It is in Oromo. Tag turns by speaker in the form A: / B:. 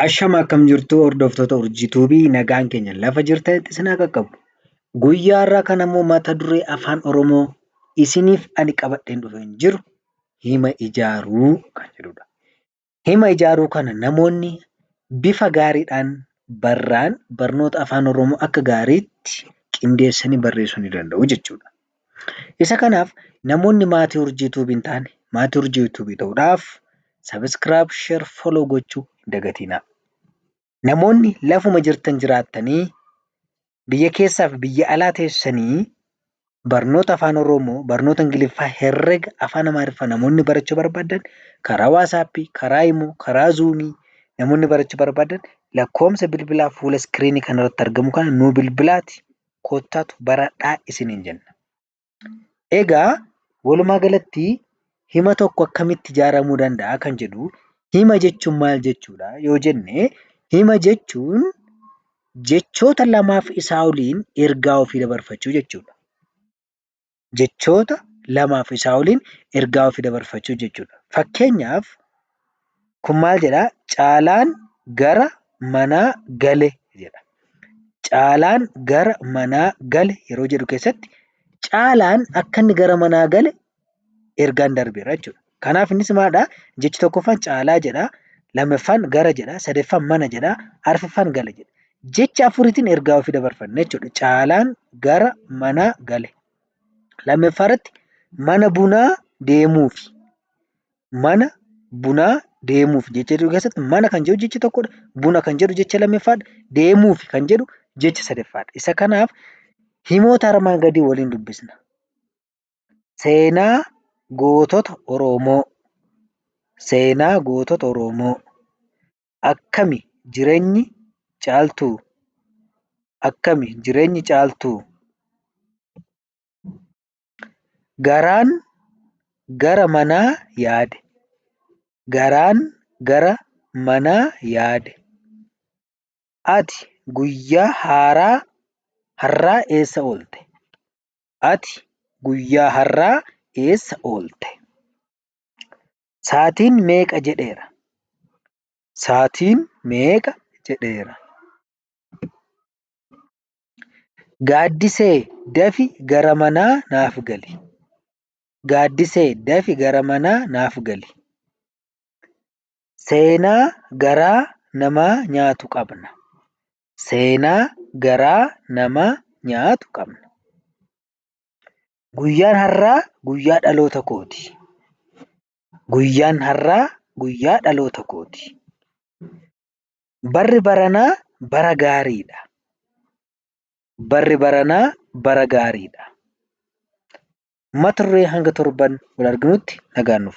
A: Ashama akkam jirtu hordoftoota urjii tuubii nagaan keenya lafa jirtanitti isin haa qaqqabu. Guyyaa irraa kan ammoo mata duree afaan Oromoo isiniif ani qabadheen dhufee hin jiru hima ijaaruu kan jedhudha. Hima ijaaruu kana namoonni bifa gaariidhaan barraan barnoota afaan Oromoo akka gaariitti qindeessanii barreessuu ni danda'u jechuudha. Isa kanaaf namoonni maatii urjii tube hin taane maatii urjii tube ta'uudhaaf subscribe share follow gochuu hin dagatinaa. Namoonni lafuma jirtan jiraattanii biyya keessaa fi biyya alaa teessanii barnoota afaan oromoo barnoota ingiliffaa herrega afaan amaariffaa namoonni barachuu barbaadan karaa waasaappii karaa imoo karaa zuumii namoonni barachuu barbaadan lakkoomsa bilbilaa fuula iskiriinii kanarratti argamu kana nuu bilbilaati kottaatu baradhaa isiniin jenna. Egaa walumaa galatti hima tokko akkamitti ijaaramuu danda'a kan jedhu hima jechuun maal jechuudha yoo jenne hima jechuun jechoota lamaaf isaa oliin ergaa ofii dabarfachuu jechuudha. jechoota lamaa fi isaa oliin ergaa ofii dabarfachuu jechuu dha. Fakkeenyaaf, kun maal jedha? Caalaan gara manaa gale jedha. Caalaan gara manaa gale yeroo jedhu keessatti Caalaan akka inni gara manaa gale ergaan darbeera jechuu dha. Kanaaf innis maalidha? Jechi tokkoffaan caalaa jedha, lammaffaan gara jedha, sadaffaan mana jedha, arfaffaan gale jedha. Jecha afuriitiin ergaa ofii dabarfanna jechuudha. Caalaan gara manaa gale. Lammaffaa irratti mana bunaa deemuufi. Mana bunaa deemuuf jecha jedhu keessatti mana kan jedhu jecha tokkodha. Buna kan jedhu jecha lammaffaadha. Deemuuf kan jedhu jecha sadaffaadha. Isa kanaaf himoota armaan gadii waliin dubbisna. Seenaa gootota Oromoo. Seenaa gootota Oromoo. Akkami jireenyi Caaltuu? Akkami jireenyi Caaltuu? Garaan gara manaa yaade. Garaan gara manaa yaade. Ati guyyaa haaraa har'aa eessa oolte? Ati guyyaa har'aa eessa oolte? Saatiin meeqa jedheera? Saatiin meeqa jedheera? Gaaddisee dafi gara manaa naaf gali. Gaaddisee dafi gara manaa naaf gali. Seenaa garaa namaa nyaatu qabna. Seenaa garaa nama nyaatu qabna. Guyyaan har'aa guyyaa dhaloota kooti. Guyyaan har'aa guyyaa dhaloota kooti. Barri baranaa bara gaariidha. Barri baranaa bara gaariidha. Mata duree hanga torban wal arginutti nagaan nuuf tura.